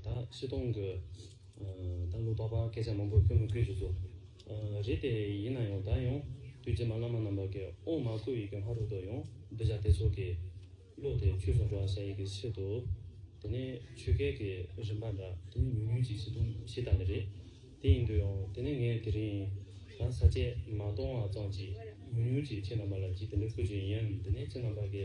ད་སི་སྟོང་གི་ད་ལོ་པ་པ་སྐད་ཆ་མང་པོ་སྐྱོ་མི་ཁུལ་ཞིག་བཟོ་རེད་དེ་ཡིན་ན་ཡང་ད་ཡང་དུས་རྗེས་མ་བླ་མ་རྣམ་པ་གི་ཨོང་མ་སྐུ་ཡི་གི་ལྷ་རུ་དུ་ཡང་བསྡུ་བྱ་དེ་ཚོ་གི་བློ་དེ་ཆུད་སོང་འགྲོ་བ་བྱ་ཡི་གི་ཕྱིར་དུ་དེ་ནི་ཆོས་སྐད་གི་རིམ་པ་འདྲ། དེ་ནི་ཉུང་ཉུང་ཅིག་སི་སྟོང་ཞེས་བཏགས་ནི་རེད་དེ་ཡིན་དུ་ཡང་དེ་ནི་ངས་དེ་རིང་ད་ས་བཅད་མ་གཏོང་བ་ཙམ་གྱིས་ཉུང་ཉུང་ཅིག་ཁྱེད་རྣམ་པ་ལ་གྱིས་དེ་འདྲ་བསྐུར་རྒྱུ་ཡིན་ཡང་དེ་ནི་ཁྱེད་རྣམ་པ་གི།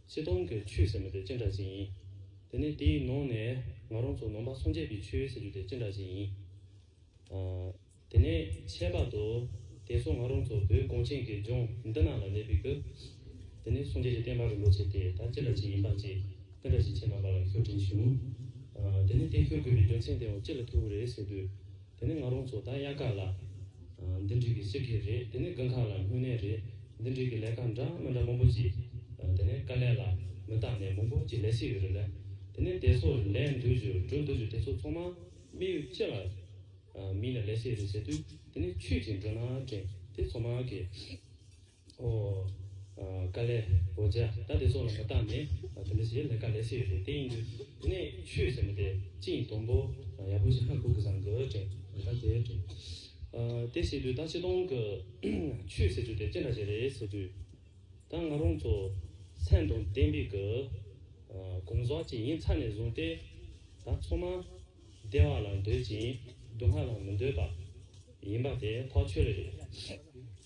ཚེ་ཐུང་གི་ཆུ་ཟེར་མི་དེ་ཅི་འདྲ་ཞིག་ཡིན། དེ་ནས་དེའི་ནང་ནས་ང་རང་ཚོ་ནང་པ་སངས་རྒྱས་པའི་ཆོས་ཟེར་རྒྱུ་དེ་ཅི་འདྲ་ཞིག་ཡིན། དེ་ནས་ཁྱད་པར་དུ་དེ་ཚོ་ང་རང་ཚོ་བོད་གངས་ཅན་གྱི་ལྗོངས་འདི་ན་ལ་གནས་པའི་ཁུལ། དེ་ནས་སངས་རྒྱས་ཀྱི་བསྟན་པ་རིན་པོ་ཆེ་དེ་ད་ཅི་འདྲ་ཞིག་ཡིན་པ་བཅས་དེ་འདྲ་ཞིག་ཁྱེད་རྣམ་པ་ལ་ཤོད་དྲན་བྱུང། དེ་ནས་དེ་ཤོད་དགོས་པའི་རྒྱུ་མཚན་དེའང་ཅི་ལ་ཐུག་རེད་ཟེར་དུས། དེ་ནི་ང་རང་ཚོ་དང་དབྱར་ཁ་ལ། འདི་འགྲིག་གི་ཕྱི་ཁེ་རེད་དེ་ནི་དགུན་ཁ་ལ་དངོས་གནས་རེད་འདི་འགྲིག་གི་ལས་ཀ་འདྲ་མི་འདྲ་མང་པོ་བྱེད། དེ་ནི་དཀའ་ལས་ལ་མི་བརྟག་ནས་མང་པོ་གྱི་ལས་ཤིག་ཡོད་རེད་ལ། དེ་ནི་དེ་ཚོ་ལས་འདོད་རྒྱུ་སྒྲུབ་འདོད་རྒྱུ་དེ་ཚོ་ཚང་མ་མི་ཡུལ་སྤྱི་ལ། མིའི་ལ་ལས་ཤེས་རེད་བྱེད་དུས་དེ་ནི་ཆོས་ཀྱི་འགྲོས་ནང་དྲན་དེ་ཚང་མ་གི། ཨོ། དཀའ་ལས། འོ་ཅེ། ད་དེ་ཚོ་ལ་མ་བརྟགས་ནས་དེ་འདྲ་བྱེད་ན་དཀའ་ལས་སེ་ཡོད་རེད་དེ་ཡིན་དུས་དེ་ནས་ཆོས་ཟེར་ན་དེ་ཅི་ཡིན་དོམ་པོ་ཡག་པོ་ཞིག་ཧ་གོ་གི་བཟང་གི་དྲན། ད་དེ་དྲན། དེ་བྱེད་དུས་ད་ཆེ་མཐོང་གི་ཆོས་ཟེར་དུས་དེ་ཅི་འདྲ་བྱེད་རེད་ཟེར་དུས་ད་ང་རང་ཚོ་མཚན་དང་གཏན་འབེབས་ཀྱི་གོང་ཟག་ཅིག་ཡིན་ཚར་ནས་བཟུང་སྟེ་ད་ཚོ་མ་བདེ་བ་ལ་འདོད་ཅིང་སྡུག་བསྔལ་ལ་མི་འདོད་པ་ཡིན་པ་དེ་ཐག་ཆོད་རེད།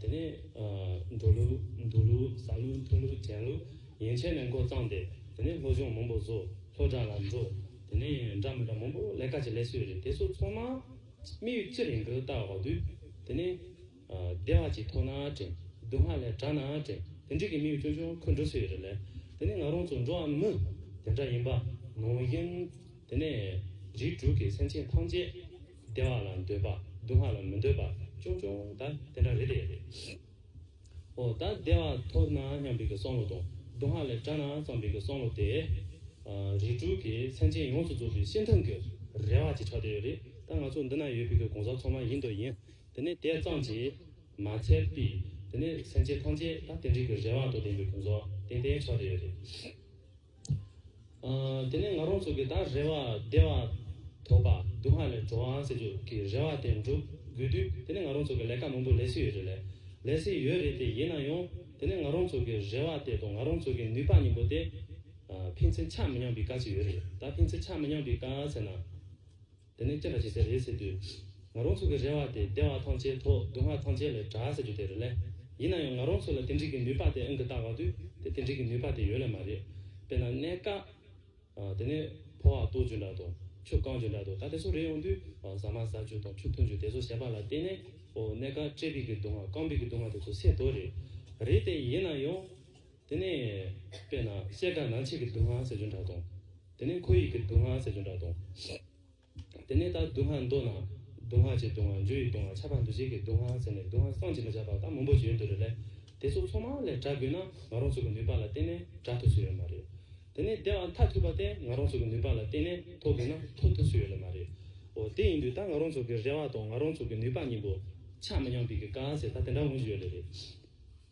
དེ་ནས་འགྲོ་ལུགས་འདུག་ལུགས་ཟ་ལུགས་འཐུང་ལུགས་དྲན་ལུགས་ཡན་ཆད་ནས་མགོ་བརྩམས་ཏེ་དེ་ནས་སློབ་སྦྱོང་མང་པོ་བཟོ་སློབ་གྲྭ་ལ་འགྲོ་དེ་ནས་འདྲ་མི་འདྲ་མང་པོ་ལས་ཀ་ཅིག་ལས་སུས་རེད་དེ་ཚོ་ཚོང་ན་མི་ཡུལ་ཅི་རིང་གི་ལྟ་བ་བ་དུས་དེ་ནས་བདེ་བ་ཅིག་ཐོབ་ན་དྲན་སྡུག་བསྔལ་ལས་དྲག་ན་དྲན་དེ་འགྲིག་གི་མི་ཡུལ་ཆུང་ཆུང་ཁུ་འགྲོ་སུས་རེད་ལས་དེ་ནས་ང་རང་ཚོ་འགྲོ་བ་མི་དེ་འདྲ་ཡིན་པ་ནང་བཞིན་དེ་ནས་རིགས་དྲུག་གི་སེམས་ཅན་ཐམས་ཅད། བདེ་བ་ལ་འདོད་པ་སྡུག་བསྔལ་ལ་མི་འདོད་པ་ཅུང་ཅུང་དག་དེ་འདྲ་རེད་དེ། ཨོ་ད་བདེ་བ་ཐོབ་ན་སྙམ་པའི་སང་ལོ་དང་སྡུག་བསྔལ་ལས་བྲལ་ན་བརྩམས་པའི་སང་ལོ་སྟེ། རིགས་དྲུག་གི་མཚན་ཅན་ཡོངས་སུ་རྫོགས་པའི་ཤིང་ཐང་གི་རལ་བ་ཅིག་ཆགས་བསྡད་ཡོད་རེད་ད་ང་ཚོ་འདི་ན་ཡོད་པའི་གོང་ས་མཚོ་མ་ཡིན་དུ་ཡིན་དེ་ནས་དེ་ཙམ་གྱིས་མ་ཚད་པས་དེ་ནས་མཚན་ཅན་ཐམས་ཅད་ད་དེ་འདྲའི་གི་རལ་བ་དང་ལྡན་པའི་གོང་ས་ཏན་ཏན་ཆགས་བསྡད་ཡོད་རེད། དེ་ནས་ང་རོང་ཚོ་གི་དང་རེ་བ་བདེ་བ་དོག་པ་སྡུག་བསྔལ་ལས་འགྲོ་བའང་ཟེར་རྒྱུ་གི་རེ་བ་དེ་འགྲུབ་དགོས་དུས་དེ་ནས་ང་རོང་ཚོ་གི་ལས་ཀ་མང་པོ་ལས་སྲིད་ཡོད་རེད་ལས་ལས་སྲིད་ཡོད་རེད་དེ་ཡིན་ན་ཡང་དེ་ནས་ང་རོང་ཚོ་གི་རེ་བ་དེ་དང་ང་རོང་ཚོ་གི་ནུས་པ་གཉིས་པོ་དེ་ཕན་ཚུན་ཆ་མི་མཉམ་པའི་དཀའ་ཚེགས་ཡོད་རེད་ད་ཕན་ཚུན་ཆ་མི་མཉམ་པའི་དཀའ་ཚེགས་ན། དེ་ནས་སྐྱེད་པ་བྱེད་སའི་རེས་ཟེར་དུས། ང་རང་ཚོ་གི་རེ་བ་དེ་བདེ་བ་ཐང་ཆད་ཐོག་སྡུག་བསྔལ་ཐང་ཆད་ལས་གྲགས་ཟེར་རྒྱུ་དེ་རེད་ལེ། ཡིན་ན་ཡང་ང་རང་ཚོ་ལ་དེ་འགྲིག་གི་ནུས་པ་དེ་ཨང་ཀི་རྟགས་བཀག་དུས་དེ་དེ་འགྲིག་གི་ནུས་པ་དེ་ཡོད་ལེ་མ་རེད། དཔེར་ན་གནས་བཀག། དེ་ནས་ཕོ་བ་ལྟོ་རྒྱུ་འདྲ་དང་ཆུ་རྐང་རྒྱུ་འདྲ་དང་ད་དེ་ཚོ་རེ་ཡོང་དུས་ཟ་མ་ཟ་རྒྱུ་དང་ཆུ་འཐུང་རྒྱུ་དེ་ཚོ་བྱེད་པ་ལ་བརྟེན་ནས་གནས་བཀག་སྤྲད་པིག་གི་སྡུག་བསྔལ་བཀང་པིག་གི་སྡུག་བསྔལ་དེ་ཚོ་སེལ་དོ་རེད། རེད་དེ་ཡིན་ན་ཡང། དེ་ནས། དཔེར་ན་གསེར་དང་ནང་ཆེས་ཀྱི་སྡུག་བསྔལ་ཟས་སྦྱོར་འདྲ་དང། དེ་ནས་ཁོར་ཡུག་གི་སྡུག་བསྔལ་ཟས་སྦྱོར་འདྲ་དང། དེ་ནས་ད་སྡུག་བསྔལ་མདོར་ན། སྡུག་བསྔལ་ཆེས་སྡུག་བསྔལ་འཇུ་ཡི་སྡུག་བསྔལ་ཆགས་པ་འདུ་བྱེད་ཀྱི་སྡུག་བསྔལ་ཟེར་ནས་སྡུག་བསྔལ་སངས་ཀྱིས་མི་ཁྱབ་པ་དང་མང་པོ་བརྗོད་འདུག་རེད་ལས། དེ་ཚོ་ཚང་མ་ལས་བསྒྲགས་དགོས་ན་ང་རང་ཚོ་གི་ནུས་པ་ལ་བརྟེན་ནས་བསྒྲགས་ཐུབ་སུ་ཡོད་ལ་མ་རེད། དེ་ནས་དེ་བ་མཐའ་ཐུག་པ་དེ་ང་རང་ཚོ་གི་ནུས་པ་ལ་བརྟེན་ནས་ཐོབ་དགོས་ན་ཐོབ་ཐུབ་སུ་ཡོད་ལ་མ་རེད། འོ་དེ་ཡིན་དུས་ད་ང་རང་ཚོ་གི་རེ་བ་དང་ང་རང་ཚོ་གི་ནུས་པ་གཉིས་པོ་ཆགས་མི་མཉམ་པའི་གི་ག་ཟེར་ད་དེ་འདྲ་ངོས་བཞིན་ཡོད་ལེ་རེད།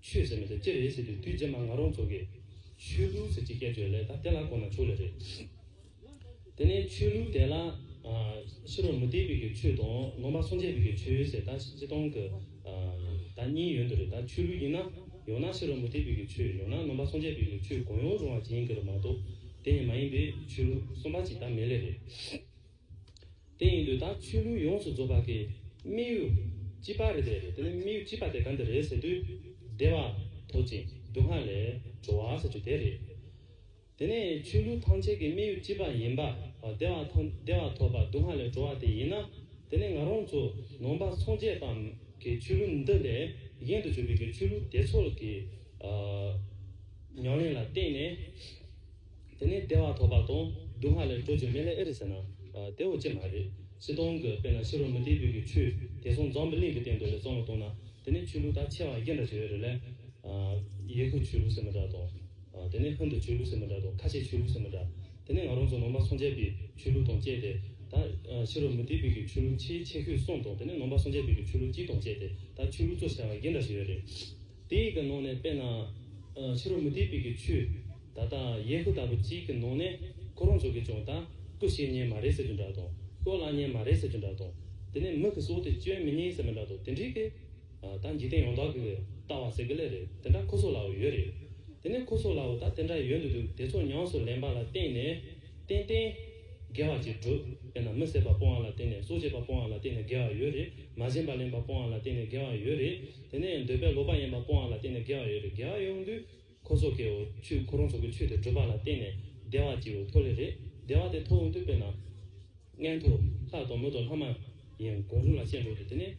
ཤོད་ཟེར་མི་ཐུབ་ཅི་རེད་ཟེར་དུས་དུས་རྗེས་མ་ང་རང་ཚོ་གིས། ཆོས་ལུགས་ཟེར་ཅི་སྐད་བརྗོད་ལེ་ད་དེ་ལ་གོ་ན་ཆོག་ལེ་རེད། དེ་ནས་ཆོས་ལུགས་དེ་ལ། ཕྱི་རོལ་མུ་སྟེགས་པའི་གི་ཆོས་དང་ནོར་འབག་སྲུང་བྱེད་པའི་གི་ཆོས་ཟེར་ད་སྤྱི་སྟངས་གི། ད་གཉིས་ཡོད་འདུག་རེད་ད་ཆོས་ལུགས་ཡིན་ན། ཡང་ན་ཕྱི་རོལ་མུ་སྟེགས་པའི་གི་ཆོས་ཡང་ན་ནོར་འབག་སྲུང་བྱེད་པའི་གི་ཆོས་གང་ཡོང་རུང་བ་ཅི་ཡིན་གི་རུ་མ་གཏོགས། དེ་གཉིས་མ་ཡིན་པའི་ཆོས་ལུགས་གསུམ་པ་ཅིག་ད་མེད་ལེ་རེད། དེ་ཡིན་དུས་ད་ཆོས་ལུགས་ཡོངས་སུ་རྫོགས་པ་གི་དམིགས་ཡུལ་ཅི་པ་རེད་དེ་རེད་དེ་ནི་དམིགས་ཡུལ་ཅི་པ་དེ་གང་དེ་རེད་ཟེར་དུས་བདེ་བ་དོག་ཅིང་སྡུག་བསྔལ་ལས་གྲོལ་བ་ཟེར་རྒྱུ་དེ་རེད། དེ་ནས་ཆོས་ལུགས་ཐམས་ཅད་ཀྱི་དམིགས་ཡུལ་ཅི་པ་ཡིན་པ་བདེ་བ་དང་བདེ་བ་ཐོབ་པ་སྡུག་བསྔལ་ལས་གྲོལ་བ་དེ་ཡིན་ན་དེ་ནི་ང་རང་ཚོ་ནང་པ་སངས་རྒྱས་པའམ་གི་ཆོས་ལུགས་འདི་ལས་གཞན་དུ་གྱུར་པའི་གི་ཆོས་ལུགས་དེ་ཚོ་གི་ཉམས་ལེན་ལ་བརྟེན་ནས། དེ་ནས་བདེ་བ་ཐོབ་པ་དང་སྡུག་བསྔལ་ལས་སྤྲོ་བྱེད་མེད་ལས་ཨེ་རེད་ཟེར་ན། དེ་འོ་ཅེས་མ་རེད། སྲིད་སྟོང་གི་དཔེ་ན་ཕྱི་རོལ་མུ་སྟེགས་བོད་ཀྱི་ཆོས་དེ་སོང་འཛམ་བུ་གླིང་གི་སྟེང་དུ་ལས་བཙོང་ལ་གཏོང་ན་དེ་ནས་ཆོས་ལུགས་དག་ཆེ་བ་རྒྱས་འདྲ་བྱེད་འོས་རེད་ལས། ཡེ་ཁུ་ཆོས་ལུགས་ཟེར་མི་འདྲ་དང། དེ་ནས་ཧིན་དུ་ཆོས་ལུགས་ཟེར་མི་འདྲ་དང་ཁ་ཆེ་ཆོས་ལུགས་ཟེར་མི་འདྲ། དེ་ནས་ང་རང་ཚོ་ནང་པ་སངས་རྒྱས་པའི་ཆོས་ལུགས་དང་བཅས་ཏེ་ད་ཕྱི་རོལ་མུ་སྟེགས་བོད་ཀྱི་ཆོས་ལུགས་ཆེས་ཆེ་ཤོས་གསུམ་དང་དེ་ནས་ནང་པ་སངས་རྒྱས་བོད་ཀྱི་ཆོས་ལུགས་གཅིག་དང་བཅས་ཏེ་ད་ཆོས་ལུགས་གཙོ་ཆེ་བ་རྒྱས་འདྲ་བྱེད་འོས་རེད། དེ་ཡི་གི་ནང་ནས་དཔེར་ན། ཕྱི་རོལ་མུ་སྟེགས་པའི་གི་ཆོས། ད་ལྟ་ཡས་ཁུ་ལྟ་བུ་གཅིག་གི་ནང་ནས། ཁོ་རང་ཚོ་གིས་ཀྱང་ད་སྐུ་བཤེས་གཉེན་མ་རེད་ཟེར་རྒྱུ་འདྲ་དང། སྐུ་བླ་གཉེན་མ་རེད་ཟེར་རྒྱུ་འདྲ་དང། དེ་ནས་མི་གི་སྲོག་དེ་གཅོད་མི་ཉན་ཟེར་མི་འདྲ་དང་དེ་འདྲའི་གི། ད་འཇིག་རྟེན་ཡོངས་དག་གི་གི་ལྟ་བ་ཟེར་གི་ལེ་རེད་དེ་འདྲ་ཁོ་ཚོ་ལའོ་ཡོད་རེད། དེ་ནས་ཁོ་ཚོ་ལའོ་ད་དེ་འདྲ་ཡོད་འདུག་འདུག་དེ་ཚོ་ཉམས་སུ་ལེན་པ་ལ་བརྟེན་ནས། ཏན་ཏན། དགེ་བ་ཅིག་བསྒྲུབ། དཔེར་ན་མི་བསད་པ་སྤོང་བ་ལ་བརྟེན་ནས་སྲོག་བཅད་པ་སྤོང་བ་ལ་བརྟེན་ནས་དགེ་བ་ཡོད་རེད། མ་བྱིན་པ་ལེན་པ་སྤོང་བ་ལ་བརྟེན་ནས་དགེ་བ་ཡོད་རེད། དེ་ནས་འདོད་པའི་ལོག་པ་ཡེངས་པ་པོའང་ལ་བརྟེན་ནས་དགེ་བ་ཡོད་པས་དགེ་བ་ཡོངས་འདུས་འཁོར་སོགས་ཀྱིའོ། ཆོས་འཁོར་རང་སོགས་ཀྱི་ཆོས་དེ་བགྲོད་པ་ལ་བརྟེན་ནས་བདེ་བ་སྐྱེའོ་མཐོ་ལས་རེག་བདེ་བ་དེ་མཐོ་འོང་དུས་དཔེར་ན། མངལ་དུ་ལྷ་དང་མི་དང་ལྷ་མ་ཡིན་གང་རུང་ལ་ཤེས་འགྲོ་དུས་དེ་ནས་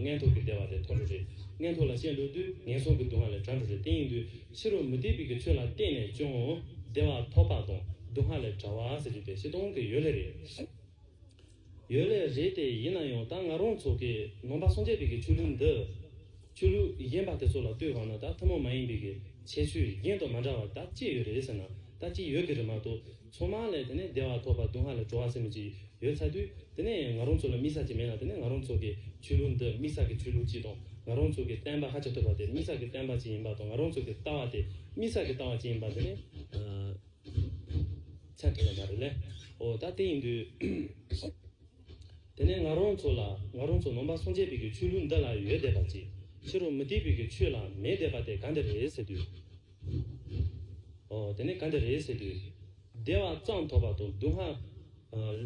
མངལ་དུ་གི་བདེ་བ་དེ་མཐོ་འགྲོ་རེག་མངལ་དུ་ལ་ཤེས་འགྲོ་དུས་ངན་སོང་གི་སྡུག་བསྔལ་ལས་དགྲ་འགྲོ་རེག་དེ་ཡིན་དུས་ཕྱི་རུ་མུ་སྟེགས་པའི་གི་ཆོས་ལ་བརྟེན་ནས་ཀྱང་བདེ་བ་མཐོ་དཔག་དང་སྡུག་བསྔལ་ལས་དགྲ་བ་ཟེར་གྱི་དེ་བཞི་སྟོང་གི་ཡོད་ལས་རེག། ཡོད་ལེ་རེད་དེ་ཡིན་ན་ཡང་ད་ང་རང་ཚོ་གི་ནང་པ་སངས་རྒྱས་བི་གི་ཆོས་ལུགས་འདི། ཆོས་ལུགས་གཞན་པ་དེ་ཚོ་ལ་ལྟོས་གོང་ན་ད་ཐུན་མོང་མ་ཡིན་བི་གི་ཆེ་ཤོས་གཞན་དང་མ་འདྲ་བ་ད་ཅི་ཡོད་རེད་ཟེར་ན་ད་ཅི་ཡོད་གི་རེད་མ་གཏོགས་ཚོང་མང་ལས་དེ་ནས་བདེ་བ་ཐོབ་པ་སྡུག་བསྔལ་ལས་གྲོལ་བ་ཟེར་མི་ཅི་ཡོད་ཚ་དུས་དེ་ནས་ང་རང་ཚོ་ལ་དམིགས་བསལ་ཅི་མེད་ན་དེ་ནས་ང་རང་ཚོ་གི་ཆོས་ལུགས་འདི་དམིགས་བསལ་གི་ཆོས་ལུགས་གཅིག་དང་ང་རང་ཚོ་གི་བསྟན་པ་ཧ་ཅང་ཐོས་པ་དེ་དམིགས་བསལ་གི་བསྟན་པ་གཅིག་ཡིན་པ་དང་ང་རང་ཚོ་གི་ལྟ་བ་དེ་དམིགས་བསལ་གི་ལྟ་བ་གཅིག་ཡིན་པ་དེ་ནི། ཆ་གས་ལ་མ་རེད་ལེ། ཨོ་ད་དེ་ཡིན་དུས། དེ་ནས་ང་རང་ཚོ་ལ་ང་རང་ཚོ་ནོམ་པ་སངས་རྒྱས་བོད་ཀྱི་ཆོས་ལུགས་འདི་ལ་ཡོད་བསྡད་པ་ཅིག་ཕྱི་རུ་མི་དེ་བོད་ཀྱི་ཆོས་ལ་མེད་བསྡད་པ་དེ་ག་འདི་རེད་ཟེར་དུས། ཨོ་དེ་ནས་ག་འདི་རེད་ཟེར་དུས། སྡེ་བ་གཙང་དོག་པ་དང་སྡུག་བསྔལ།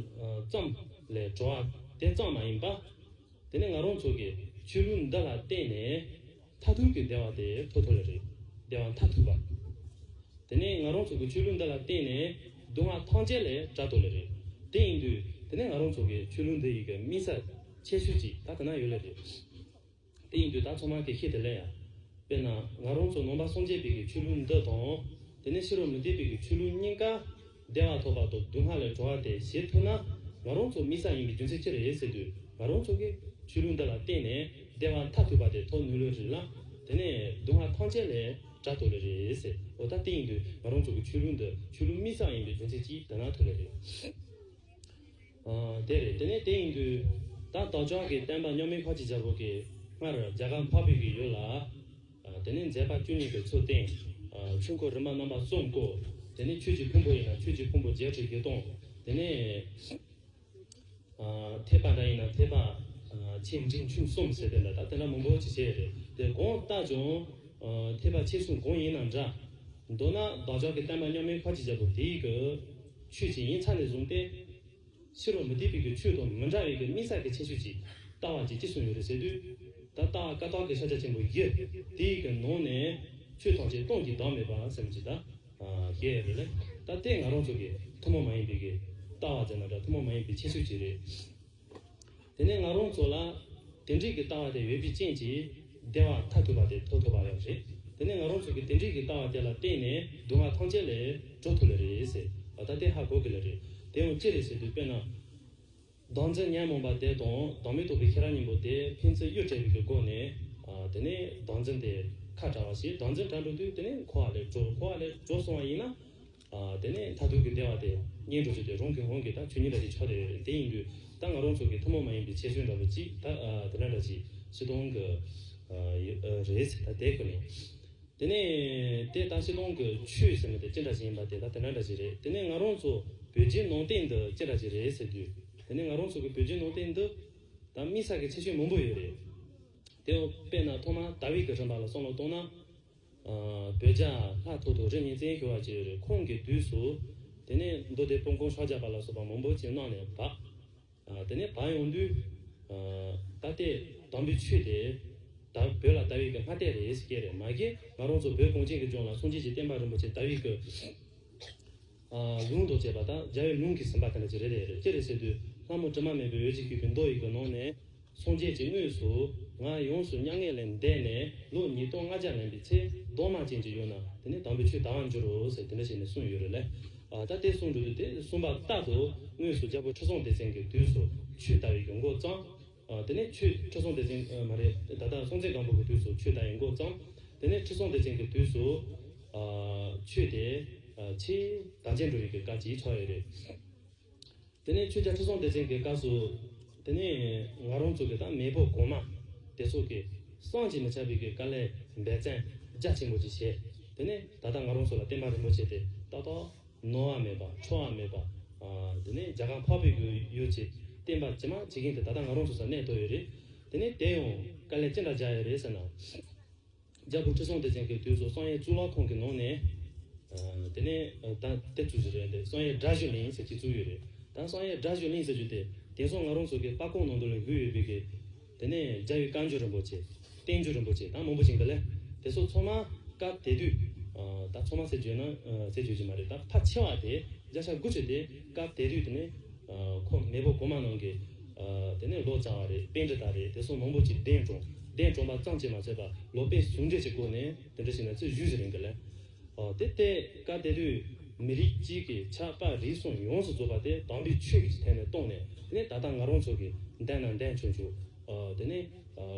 ཙམ། ལས་གྲོལ་བ་དེ་གཙང་མ་ཡིན་པ། དེ་ནས་ང་རང་ཚོ་གི་ཆོས་ལུགས་འདི་ལ་བརྟེན་ནས། མཐའ་ཐུག་གི་བདེ་བ་དེ་ཐོབ་ཐུབ་པ་རེད། བདེ་བ་མཐའ་ཐུག་པ། དེ་ནི་ང་རང་ཚོ་གི་ཆོས་ལུགས་འདི་ལ་བརྟེན་ནས་སྡུག་བསྔལ་ཐམས་ཅད་ལས་བསྒྲལ་ཐུབ་ལེ་རེད། དེ་ཡིན་དུས་དེ་ནི་ང་རང་ཚོ་གི་ཆོས་ལུགས་འདི་ཡི་གི་དམིགས་ས་ཆེ་ཤོས་ཅིག་ད་དེ་ན་ཡོད་ལེ་རེད། དེ་ཡིན་དུས་ད་ཚང་མ་གེ་ཤེས་དེ་ལེ་ཡ། དཔེར་ན་ང་རང་ཚོ་ནང་པ་སངས་རྒྱས་པའི་གི་ཆོས་ལུགས་འདི་དང། དེ་ནི་ཕྱི་རོལ་མི་སྡེ་པའི་གི་ཆོས་ལུགས་གཉིས་ཀ། བདེ་བ་ཐོབ་པ་དང་སྡུག་བསྔལ་ལས་གྲོལ་བ་དེ་ཞེས་ཐོས་ན། ང་རང་ཚོ་མི་ས་ཡིན་པའི་རྒྱུ་མཚན་ཅི་རེད་ཟེར་དུས་ང་རང་ཚོ་གིས་ཆོས་ལུགས་འདི་ལ་བརྟེན་ནས་བདེ་བ་མཐའ་ཐུག་པ་དེ་ཐོབ་ནུས་ལོས་རེད་ལ། དེ་ནས་སྡུག་བསྔལ་ཐམས་ཅད་ལས་དགྲ་ཐོབ་ལོས་རེད་ཟེར་འོ་ད་དེ་ཡིན་དུས་ང་རང་ཚོ་གིས་ཆོས་ལུགས་འདི་ཆོས་ལུགས་མི་ས་ཡིན་པའི་རྒྱུ་མཚན་ཅི་དེ་ན་ཐུག་ལོས་རེད། དེ་རེད་དེ་ནས་དེ་ཡིན་དུས་ད་བདག་ཅག་གིས་བསྟན་པ་རྙོག་མིན་ཁ་ཅིག་འཇབ་རོགས་གིས་སྔར་རྒྱ་གར་འཕགས་བོད་ཀྱི་ཡོད་ལ། དེ་ནས་མཛད་པ་བཅུ་གཉིས་པའི་ཚུལ་བསྟན། ཆོས་འཁོར་རིམ་པ་རྣམ་པ་གསུམ་བསྐོར། དེ་ནས་ཆོས་ཀྱི་ཕུང་པོ་ཡིན་ན་ཆོས་ཀྱི་ཕུང་པོ་བརྒྱད་ཁྲི་བརྒྱད་སྟོང། དེ་ནས་ཐེག་པ་འདྲ་ཡིན་ན་ཐེག་པ། ཆེ་འབྲིང་ཆུང་གསུམ་ཟེར་དོན་འདྲ་ད་དེ་འདྲ་མང་པོ་ཇི་བྱས་རེད་དེ་དགོངས་བཏགས་ཀྱང། ཐེག་པ་ཆེ་ཆུང་གང་ཡིན་ན་འདྲ། མདོར་ན་བདག་ཅག་གི་བསྟན་པ་མཉམ་མེད་ཁ་ཅིག་བྱ་བུ་དེ་ཡི་གི། ཆོས་ཀྱི་ཡིན་ཚ་ནས་བཟུང་སྟེ། ཕྱི་རུ་མུ་ཏིག་ཕུག་གི་ཆུ་དང་མི་འདྲ་བའི་གི་སྨིན་སར་གི་ཆེ་ཤོས་ཀྱི་རྟ་བ་ཅིག་ཅི་སུ་ཡོད་རེད་ཟེར་དུས། ད་རྟ་བ་ཀ་ཐོག་གི་ཤ་ཆ་ཆེན་པོ་བཞི་དེའི་གི་ནང་ནས་ཆུ་ཐོག་ཆེ་སྟོང་གི་དྭངས་མེད་པ་སེམས་ཅི་ད་ཞེས་ཡོད་རེད་ལ་ད་ལྟའི་ང་རང་ཚོ་གི་ཐུན་མོང་མ་ཡིན་པའི་གི་རྟ་བ་ཟེར་ན་འདྲ་ཐུན་མོང་མ་ཡིན་པའི་ཆེ་ཤོས་ཅིག་རེད། དེ་ནས་ང་རང་ཚོ་ལ་དེ་འགྲིག་གི་ལྟ་བ་དེ་ཡོད་རྒྱུ་རྐྱེན་གྱིས་བདེ་བ་ཐ་ཐུབ་པ་དེ་ཐོབ་ཐུབ་པ་ཡོད་རེད། དེ་ནས་ང་རང་ཚོ་གི་དེ་འགྲིག་གི་ལྟ་བ་དེ་ལ་བརྟེན་ནས་སྡུག་བསྔལ་ཐམས་ཅད་ལས་གྲོལ་ཐུབ་ལེ་རེད་ཟེར་བ་ད་ལྟའི་ཧ་གོ་གི་ལེ་རེད། དེ་ཡང་ཅི་རེད་ཟེར་དུས་དཔེར་ན། བདག་འཛིན་ཉན་རྨོངས་པ་དེ་དང་བདག་མེད་རྟོགས་པའི་ཁེ་རང་གཉིས་པོ་དེ་ཕན་ཚུན་གཡོ་བྲལ་བའི་གི་སྒོ་ནས་དེ་ནས་བདག་འཛིན་དེ་ཁ་བྲལ་བ་ཞིག་བདག་འཛིན་བྲལ་འགྲོ་དུས་དེ་ནས་འཁོར་བ་ལས་གྲོལ་འཁོར་བ་ལས་གྲོལ་སོང་བ་ཡིན་ན། དེ་ནས་མཐར་ཐུག་གི་བདེ་བ་དེ་སྙེད་འགྲོ་བྱེད་དེ་རུང་གི་དབང་གིས་ད་ཁྱོད་ཉིད་ལ་ཅིག་ཆོག་དེ་རེད་དེ་ཡིན་དུས་ད་ང་རང་ཚོ་གི་ཐུན་མོང་མ་ཡིན་པའི་ཆེ་ཆུང་འདྲ་པོ་ཅིག་ད་དེ་འདྲ་འདྲ་ཅིག་ཕྱི་གཏོང་གི་རེད་ད་དེ་ཁོ་ནས་དེ་ནས་དེ་ད་ཕྱི་གཏོང་གི་ཆོས་ཟེར་མ་དེ་ཅི་འདྲ་ཅིག་ཡིན་པ་དེ་ད་དེ་འདྲ་འདྲ་ཅིག་རེད་དེ་ནས་ང་རང་ཚོ་བོད་རྗེས་ནང་བསྟན་འདི་ཅི་འདྲ་ཅིག་རེད་ཟེར་དུས་དེ་ནས་ང་རང་ཚོ་གི་བོད་རྗེས་ནང་བསྟན་འདི་ད་དམིགས་བསལ་གི་ཆེ་ཆུང་མང་པོ་ཡོད་རེད་དེ་དཔེར་ན་ཐོག་མར་དཱ་བིད་ཀྱི་རིམ་པ་ལ་སོང་ལ་གཏོང་ན། བོད་ཇག་ལྷ་ཐོ་ཐོ་རི་ཉིན་བཙན་ཞུ་བ་བྱས་ཡོད་རེད་ཁོང་གི་དུས་སུ། དེ་ནས་མདོ་སྡེ་སྤོ་འགོང་ཤོག་ཇག་པ་ལ་སོགས་པ་མང་པོ་བྱས་གནང་ནས་བག། དེ་ནས་བག་ཡོང་དུས། ད་ལྟའི་དམ་བུའི་ཆོས་དེ། ད་བོད་ལ་ད་ཡིག་གི་སྔ་ལྟས་རེད་ཟེར་སྐད་རེད་མ་སྐད་ང་རང་ཚོ་བོད་གངས་ཅན་གྱི་ལྗོངས་ལ་སངས་རྒྱས་ཀྱི་བསྟན་པ་རིན་པོ་ཆེ་ད་ཡིག་གི། རླུང་རྡོ་ཅེས་པ་དག་སྦྱར་བའི་རླུང་གིས་ཟིན་པ་དེ་འདྲ་ཅི་རེ་རེད་རེད་ཅེ་རེ་ཟེར་དུས་ལྷ་མོ་དྲི་མ་མེད་པའི་འོད་ཅིག་ཤོས་ཀྱི་མདོག་ཡིད་ཀྱི་ནང་ནས་སངས་རྒྱས་ཀྱི་དངོས་སུ་ང་ཡོངས་སུ་མྱ་ངན་ལས་འདས་ནས་ལོ་ཉིས་སྟོང་ལྔ་བརྒྱ་ལན་པའི་ཚེ་གདོང་དམར་ཅན་གྱི་ཡུལ་ན་དེ་ནས་དང་པོའི་ཆོས་དར་བར་འགྱུར་རོ་ཟེར་དེ་འདྲ་བྱས་ནས་གསུངས་ཡོད་རེད་ལས་ད་ལྟའི་གསུང་འགྲོ་དུས་དེ་གསུངས་པ་རྟག་ཏུ་དངོས་སུ་རྒྱལ་པོ་ཁྲི་སྲོང་ལྡེ་བཙན་གྱི་དུས་སུ་ཆོས་དར་བའི་གྱོང་མགོ་བརྩམས། དེ་ནས་ཆུ་ཁྲི་སྲོང་ལྡེ་བཙན། མ་རེད། ད་ལྟ་སྲོང་བཙན་སྒམ་པོ་གི་དུས་སུ་ཆུ་ད་ཡིན་འགོ་བརྩམས། དེ་ནས་ཁྲི་སྲོང་ལྡེ་བཙན་གྱི་དུས་སུ། ཆུ་དེ། ཕྱིའི་དམ་ཅན་འགྲོ་ཡི་གི་སྐ་ཇི་ཆགས་ཡོད་རེད། དེ་ནས་ཆུ་རྒྱ་ཁྲི་སྲོང་ལྡེ་བཙན་གྱི་སྐ་སུ། དེ་ནས་ང་རང་ཚོ་གི་དང་མེས་པོ་གོང་མ། དེ་ཚོ་གི། སངས་ཀྱི་མི་ཆགས་པའི་གི་སྐ་ལས་འབད་བཙན་རྒྱ་ཆེན་པོ་ཅིག་བྱས། དེ་ནས་ད་ལྟ་ང་རང་ཚོ་ལ་བསྟན་པ་རིན་པོ་ཆེ་དེ་ཏག་ཏག། ནོར་བ་མེད་པ་འཕྲོ་བ་མེད་པ། དེ་ནས་རྒྱ་གར་འཕགས་པའི་སྒོའི་ཡུལ་ཅེས་བསྟན་པ་ཇི་མ་ཇི་མཁན་དེ་ད་ལྟ་ང་རང་ཚོ་སར་གནས་ཐོག་ཡོད་རེད། དེ་ནས་དེ་ཡང་དཀའ་ལས་ཅི་འདྲ་བྱ་ཡོད་རེད་ཟེར་ན། རྒྱ་བོད་ཁྲི་སྲོང་ལྡེ་བཙན་གྱི་དུས་སུ་བསང་ཡའི་གཙུག་ལག་ཁང་གི་ནང་ནས། དེ་ནས་ད་དེ་བཙུགས་ཟིན་རེད་དེ་བསང་ཡའི་སྒྲ་བཞི་གླིང་ཟེར་གྱིས་བཙུགས་ཡོད་རེད། ད་བསང་ཡའི་སྒྲ་བཞི་གླིང་ཟེར་རྒྱུ་དེ་དེང་སང་ང་རང་ཚོ་གི་སྤ་ཀོང་ནང་དུ་ལ་འགུལ་ཡོད་པའི་གི། དེ་ནས་རྒྱ་ཡི་བཀའ་འགྱུར་རིན་པོ་ཆེ། བསྟན་འགྱུར་རིན་པོ་ཆེ་དང་མང་པོ་བཞེངས་པ་ལས་དེ་སོགས་ཚོགས་མ་སྐབས་དེ་དུས། ད་ཚོགས་མ་ཟེར་བརྗོད་ན་ཟེར་བརྗོད་ཀྱི་མ་རེད་ད་ཕ་ཆེ་བ་དེ་རྒྱ་ཤ་དགུ་ཆོས་དེ་སྐབས་དེ་དུས་དེ་ནས། ཁོ་མེས་པོ་གོང་མ་ནང་གི། དེ་ནས་ལོ་བྱ་བ་རེད་དཔེ་འདི་ལྟར་རེད་དེ་སོགས་མང་པོ་ཅིག་གདན་དྲོངས། གདན་དྲོངས་པ་ཙམ་གྱིས་མ་ཚད་པ་ལོ་པའི་ཟུང་འབྲེལ་གྱི་སྒོ་ནས་དེ་འདྲ་ཞིག་ན་ཚེས་བཞི་བཞི་རིང་གི་ལས། དེ་ལྟའི་སྐབས་དེ་དུས་མི་རིགས་གཅིག་གི་ཆགས་པ་རིགས་གསུམ་ཡོངས་སུ་རྫོགས་པ་དེ་དམ་པའི་ཆོས་ཀྱི་ཐད་ནས་རྟོགས་ནས་ནི་ད་ལྟ་ང་རང་ཚོ་གི་འདས་ན་འདས་ཆོག་ཆོག་དེ་ནི་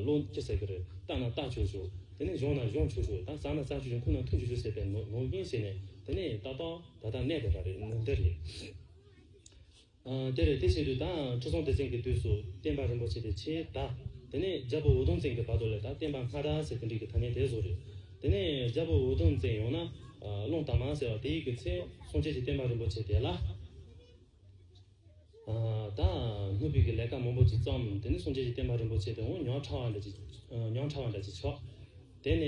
བློ་ཅི་ཟེར་གི་རེད་བཏགས་ན་བཏགས་ཆོག་ཆོག་དེ་ནི་གཞོངས་ན་གཞོངས་ཆོག་ཆོག་དང་བསགས་ན་བསགས་ཆོག་ཆོག་འཐུང་ན་འཐུང་ཆོག་ཆོག་ཟེར་པའི་ནོར་རྐྱེན་བྱས་ནས་དེ་ནི་ད་ལྟ་ད་ལྟ་གནས་བསྡད་པ་རེད་འདི་རེད། དེར་དེ་བཞིན་དུ་དང་ཁྲི་སྲོང་ལྡེ་བཙན་གྱི་དུས་སུ་བསྟན་པ་རིན་པོ་ཆེ་དེ་ཆེའི་བདག། དེ་ནས་རྒྱལ་པོ་འུ་དུམ་བཙན་གྱི་བར་དུ་ལས་དང་བསྟན་པ་སྔ་དྲག་ཟེར་དེ་འགྲིག་གི་ཐ་མའི་དེ་སོགས་རེད། དེ་ནས་རྒྱལ་པོ་འུ་དུམ་བཙན་ཡོང་ན་ཀློང་དར་མ་ཟེར་བ་དེ་ཡི་གི་ཚེ་སྲོང་བཅས་ཀྱི་བསྟན་པ་རིན་པོ་ཆེ་དེ་ལ་དང་སྣུབ་ཕུད་ཀྱི་ལས་ཀ་མང་པོ་ཅིག་བརྩམས། དེ་ནས་སྲོང་བཅས་ཀྱི་བསྟན་པ་རིན་པོ་ཆེ་དེ་འོང་ཉོག་ཕྲ་བ་འདྲ་ཅིག་ཆོག། དེ་ནས་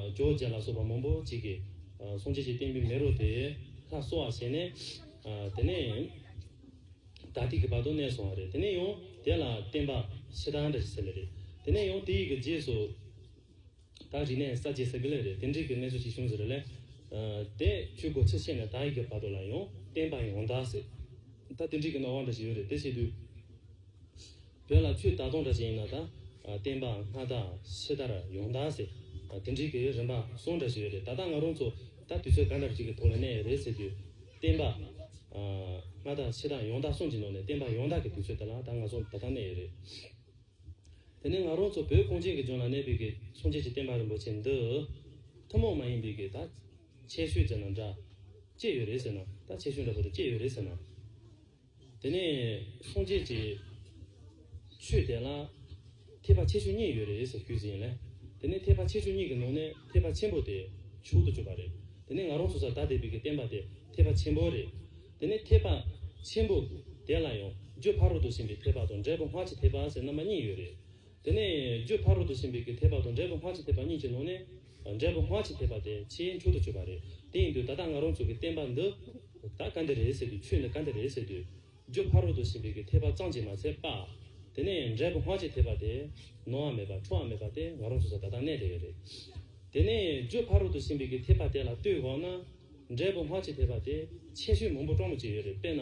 རྒྱོ་རྗེ་ལ་སོགས་པ་མང་པོ་ཅིག་གིས་གསུང་བྱེད་ཀྱི་བསྟན་པའི་མེ་རོ་དེ་ལྷ་གསོ་བར་བྱས་ནས། དེ་ནས་དག་ཐིག་གི་བར་དུ་གནས་སོང་བ་རེད། དེ་ནས་ཡང་དེ་ལ་བསྟན་པ་ཕྱི་དང་འདྲ་ཞིག་ཟེར་ལེ་རེད། དེ་ནས་ཡང་དེ་ཡི་གི་རྗེས་སུ་དག་རིག་གནས་ས་བཅད་ཟེར་གི་ལེ་རེད་དེ་འདྲིག་གི་གནས་ཚུལ་ཞིག་བྱུང་ཟེར་རེ་ལེ། དེ་ཁྱོད་གོ་ཕྱིར་ཤེས་ནས་དག་ཡི་གི་བར་དུ་ལ་ཡང་བསྟན་པ་ཡོངས་དག་ཟེར། ད་དེ་འདྲིག་གི་སྣང་བ་འདྲ་ཞིག་ཡོད་རེད་དེ་བྱེད་དུས། དོན་ལ་ཁྱོད་ད་དུང་འདྲ་ཞིག་ཡིན་ན་ད། བསྟན་པའང་སྔ་དར་ཕྱི་དར་ཡོངས་དར་ཟེར། དེ་འགྲིག་གི་རིན་པ་སོང་འདྲ་ཞིག་ཡོད་རེད་ད་ལྟ་ང་རང་ཚོ་ད་དུས་ཚོད་ག་འདྲ་ཞིག་གི་ཐོག་ལ་གནས་ཡོད་རེད་ཟེར་དུས། བསྟན་པ། སྔ་དར་ཕྱི་དར་ཡོངས་དར་གསུངས་ཀྱི་ནོར་ནས་བསྟན་པ་ཡོངས་དར་གི་དུས་ཚོད་དེ་ལ་ད་ང་ཚོ་ད་ལྟ་གནས་ཡོད་རེད། དེ་ནི་ང་རང་ཚོ་བོད་གངས་ཅན་གྱི་ལྗོངས་ལ་གནས་པའི་གི་མཚོན་བྱེད་ཀྱི་བསྟན་པ་རིན་པོ་ཆེ་འདི། ཐུན་མོང་མ་ཡིན་པའི་གི་ད། ཆེ་ཤོས་ཟེར་ན་འདྲ། སྐྱེས་ཡོད་རེད་ཟེར་ན་ད་ཆེ་ཤོས་འདྲ་པོ་དེ་སྐྱེས་ཡོད་རེད་ཟེར་ན། དེ་ནས་སངས་རྒྱས་ཀྱི་ཆོས་དེ་ལ་ཐེག་པ་ཆེ་ཆུང་གཉིས་ཡོད་རེད་ཟེར་རྒྱུ་ཡིན། དེ་ནས་ཐེག་པ་ཆེ་ཆུང་གཉིས་ཀྱི་ནང་ནས་ཐེག་པ་ཆེན་པོ་དེ་བྱུག་ཏུ་བཅུག་པ་རེད། དེ་ནས་ང་རང་ཚོ་ས་བདག་སྡེ་བི་གིས་བསྟན་པ་དེ་ཐེག་པ་ཆེན་པོ་རེད། དེ་ནས་ཐེག་པ་ཆེན་པོ་དེ་ལ་ཡང་རྒྱུད་ཕ་རོལ་ཏུ་ཕྱིན་པའི་ཐེག་པ་དང་འབྲས་བུ་སྔར་གྱི་ཐེག་པ་ཟེར་ན་མ་གཉིས་ཡོད་རེད། དེ་ནས་རྒྱུ་ཕ་རོལ་ཏུ་ཕྱིན་པའི་གི་ཐེག་པ་དང་འབྲས་བུ་སྔར་གྱི་ཐེག་པ་གཉིས་ཀྱི་ནང་ནས། འབྲས་བུ་སྔར་གྱི་ཐེག་པ་དེ་ཕྱིའི་འཕྲོ་དུ་གཅོད་པ་རེད། དེ་ཡིན་དུས་ད་ལྟ་ང་རང་ཚོ་གི་བསྟན་པ་འདི། ད་ག་འདི་རེད་ཟེར་དུས་ཆོས་འདི་ག་འདི་རེད་ཟེར་དུས། རྒྱུ་ཕ་རོལ་ཏུ་ཕྱིན་པའི་གི་ཐེག་པ་གཙང་གཅིག་མ་ཚད་པ། དེ་ནས་འབྲས་བུ་སྔར་གྱི་ཐེག་པ་དེ། ནོར་བ་མེད་པ་འཕྲོ་བ་མེད་པ་སྟེ་ང་རང་ཚོ་ས་ད་ལྟ་གནས་དེ་བས་རེད། དེ་ནས་རྒྱུ་ཕ་རོལ་ཏུ་ཕྱིན་པའི་གི་ཐེག་པ་དེ་ལ་ལྟོས་དགོངས་ན། འབྲས་བུ་སྔར་གྱི་ཐེག་པ་དེ། ཆེ་ཤོས་མང་པོ་སྤྲོ་མོ་གཅིག་ཡོད་རེད་དཔེར་ན།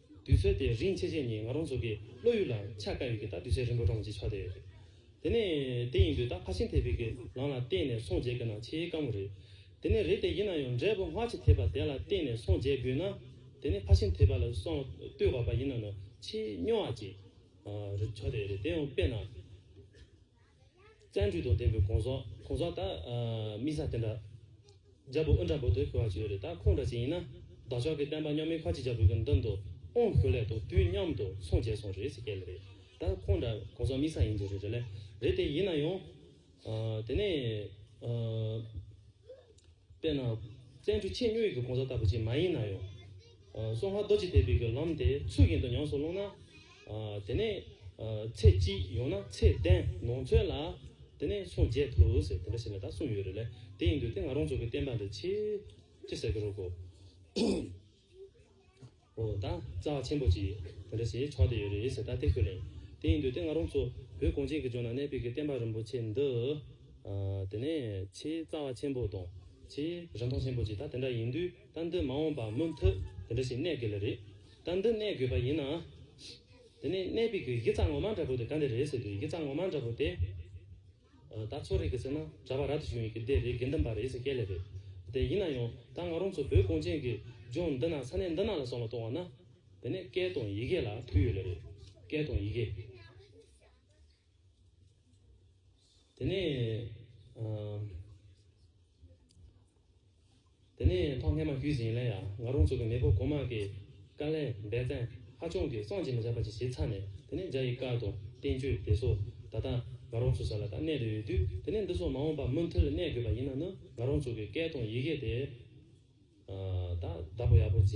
དུས་ཚོད་དེ་རིང་ཆེ་ཆེ་ནི་ང་རང་ཚོ་གི་བློ་ཡུལ་ལ་ཆ་དཀའ་ཡོད་ཀི་ད་དུས་ཚོད་རིང་པོ་གྲོངས་ཀྱི་ཆགས་བསྡད་ཡོད་རེད། དེ་ནས་དེ་ཡིན་དུས་ད་ཕར་ཕྱིན་ཐེབས་པའི་གི་ལང་ལ་བརྟེན་ནས་སོང་རྗེས་གི་ན་ཆེས་དཀའ་མོ་རེད། དེ་ནས་རེད་དེ་ཡིན་ན་ཡང་འབྲས་བུ་སྔ་ཕྱི་ཐེབས་པ་དེ་ལ་བརྟེན་ནས་སོང་རྗེས་གི་ན་དེ་ནས་ཕར་ཕྱིན་ཐེབས་པ་ལ་སོང་ལྟོས་བ་པ་ཡིན་ན་ན་ཆེས་སྨྱོ་བ་ཅིག་རེད་ཆགས་བསྡད་ཡོད་རེད་དེ་ཡང་དཔེར་ན། བཙན་འཁྲུལ་དང་ལྡན་པའི་གོང་ཟག་གོང་ཟག་དག་མི་ཟ་དེ་འདྲ། རྒྱལ་པོ་ཨུ་འདྲ་པོ་དེ་ཁོ་བ་ཅིག་ཡོད་རེད་ད་ཁོང་འདྲ་ཅིག་ཡིན་ན་བདག་ཅག་གི་བསྟན་པ་རྙོག་མི་ཁ་ཅིག་རྒྱ་བོད་ཀྱི་མདུན་དུ་ཨོང་ཞུ་སླད་དུ་དུས་མཉམ་དུ་ཚོང་བྱས་སོང་རེད་ཟེར་གལ་རེད་ད་ཁོང་འདྲ་གོང་ཟག་མི་ཟ་ཡིན་གྱི་རེད་རེད་ལེ་རེད་དེ་ཡིན་ན་ཡང། དེ་ནས། དཔེར་ན། བཙན་བྱོལ་ཕྱི་སྨྱོན་གྱི་གོང་ས་ལྟ་བུ་ཅིག་མ་ཡིན་ན་ཡང། སོ་ཧ་རྡོ་རྗེ་ཐེལ་བིས་ཀྱི་ལམ་དེ་ཚུར་གྱེན་དུ་ཉམས་སུ་བླངས་ན། དེ་ནས། ཚེ་གཅིག་ཡང་ན་ཚེ་གདན་ནང་ཚོད་ལ། དེ་ནས་སངས་རྒྱས་ཐུགས་ཟེར་དེ་འདྲ་ཞིག་ལ་ད་གསུངས་ཡོད་རེད་ལ་དེ་ཡིན་དུས་དེ་ང་རང་ཚོ་གི་བསྟན་པ་འདི་ཆེ། ཅི་ཟེར་གི་རོགས་གོ། ཨོ་ད། རྩ་བ་ཆེན་པོ་ཅིག་དེ་འདྲ་ཞིག་ཆགས་བསྡད་ཡོད་རེད་ཟེར་ད་ལྟའི་ཁོས་ལན། དེ་ཡིན་དུས་དེ་སྔ་རོང་ཚོ་བོད་གངས་ཅན་གྱི་ལྗོངས་ན་གནས་སྤོས་ཀྱི་བསྟན་པ་རིན་པོ་ཆེ་འདི། དེ་ནས་ཆེས་རྩ་བ་ཆེན་པོ་དང་ཆེས། རིན་ཐང་ཆེན་པོ་ཅིག་ད་དེ་འདྲ་ཡིན་དུས་ད་འདི་མ་འོངས་པར་མུ་མཐུད་དེ་འདྲ་ཞིག་གནས་དགོས་ལེ་རེད། ད་འདི་གནས་དགོས་པ་ཡིན་ན། དེ་ནས་གནས་སྤོས་ཀྱི་གཞི་རྩ་ངོ་མ་འདྲ་པོ་དེ་ག་འདི་རེད་ཟེར་དུས་གཞི་རྩ་ངོ་མ་འདྲ་པོ་དེ། ད་ཚོ་རིག་གི་ཚེ་ན་གྲྭ་པ་ར་དེ་ཞིག་ཡོང་གི་འདི་རེད་དགེ་འདུན་པ་རེད་ཟེར་སྐད་ལེ་རེད་དེ་ཡིན་ན་ཡང་ད་ང་རང་ཚོ་བོད་གངས་ཅན་གི་ལྗོངས་འདི་ན་ས་གནས་འདི་ན་ལ་སོང་ལ་གཏོང་བ་ན་དེ་ནས་སྐད་དང་ཡི་གེ་ལ་དུས་ཡོད་ལེ་རེད་སྐད་དང་ཡི་གེ་དེ་ནས། དེ་ནས་ཐོག་སྔས་མ་ཞུས་ཟིན་ལན་ཡང་ང་རོང་ཚོ་གི་མེས་པོ་གོང་མ་གི་བཀའ་ལན་འབད་བརྩན་ཧ་ཆུང་གིས་སོང་ཅི་མི་བྱ་བ་ཅི་བྱེད་ཚར་ནས་དེ་ནས་འཇའ་ཡི་སྐར་དང་བསྟན་བཅོས་དེ་སོགས་ད་ལྟ་ང་རོང་ཚོ་ས་ལ་ད་གནས་ལེ་ཡོད་དུས་དེ་ནས་འདི་སོགས་མ་འོངས་པ་མུ་མཐུད་ལ་གནས་དགོས་པ་ཡིན་ན་ནི་ང་རོང་ཚོ་གི་སྐད་དང་ཡི་གེ་དེ་ད་བདག་པོ་ཡག་པོ་བྱས་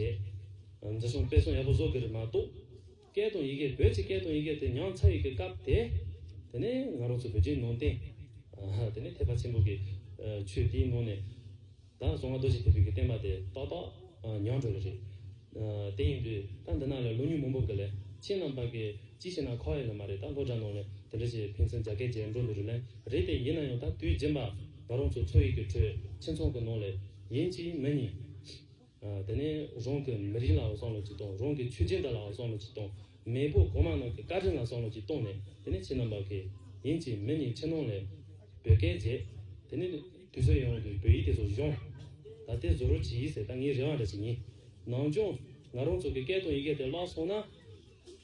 འཛིན་སྲུང་སྤེལ་སྲུང་ཡག་པོ་བཟོ་དགོས་རེད་མ་གཏོགས། སྐད་དང་ཡི་གེ་བོད་ཀྱི་སྐད་དང་ཡི་གེ་དེ་ཉང་ཚ་ཡི་གེ་སྐབས་དེ་དེ་ནས་ང་རང་ཚོ་བོད་རྒྱའི་ནང་བསྟན་དེ་ནས་ཐེག་པ་ཆེན་པོ་གི་ཆོས་དེའི་ནང་ནས་ད་གཟོང་ང་རྡོ་རྗེ་ཐེག་པའི་གི་བསྟན་པ་དེ་ཏག་ཏག་ཉམས་འགྲོ་གི་རེད། དེ་ཡིན་དུས་ད་འདི་ན་ལས་ལོ་ཉུང་མང་པོ་གི་ལས་ཁྱེད་རྣམས་པ་གི་ཅི་ཞིག་ན་ཁག་ཡོད་ལ་མ་རེད་ད་སློ་གྲྭ་ནང་ལས་དེ་འདྲ་ཞིག་ཕན་ཚུན་རྒྱ་སྐད་རྗེས་འགྲོ་འདུག་རུ་ལན་རེད་དེ་ཡིན་ན་ཡང་ད་དུས་རྗེན་པ་ང་རང་ཚོ་ཚོ་ཡིག་གི་ཁྲོད་ཁྱིམ་ཚང་གི་ནང་ལས་ཡིན་གཅིག་མིན་གཉིས། དེ་ནས་རང་གི་མི་རིགས་ལའང་བསམ་བློ་གཅིག་གཏོང་རང་གི་ཆོས་སྤྱི་འདི་ལའང་བསམ་བློ་གཅིག་གཏོང་མེས་པོ་གོང་མ་རྣམས་ཀྱི་བཀའ་དྲིན་ལ་བསམ་བློ་གཅིག་གཏོང་ནས་དེ་ནས་ཕྱི་ནང་བར་གྱི་ཡིན་གཅིག་མིན་གཉིས་ཕྱི་ནང་ལས་བོད་སྐད་བརྗེད་དེ་ནས་དུས་ཚོད་ཡོངས་ཀྱི་བོད་ཡིག་དེ་ཚོ་གཞོན་ད་ལྟའི་བཟོ་རུ་བྱེད་ཡིག་ཟེར་ད་ངའི་རེ་བ་འདྲ་ཞིག་ཡིན་ནང་སྦྱོང་ང་རང་ཚོ་གི་སྐད་དང་ཡི་གེ་དེ་བརླག་སོང་ན།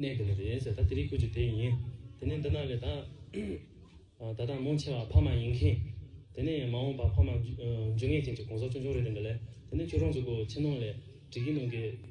གནས་དེ་ནས་དེ་ཡིན་ཟེར་ད་དེ་རིགས་ཁུལ་གྱི་དེ་ཡིན་དེ་ནས་འདི་ན་ལས་ད་ད་དང་མོ་ཆེ་བ་ཕ་མ་ཡིན་མཁན་དེ་ནས་མ་འོངས་པ་ཕ་མ་འཇུ་ངེས་ཅན་གྱི་གོང་ས་མཆོག་མཆོག་རེད་དེ་འདི་ལས་དེ་ནས་ཁྱོད་རང་ཚོ་གོ་ཆེ་ནང་ལས་བྲིས་ཀྱི་ནང་གི།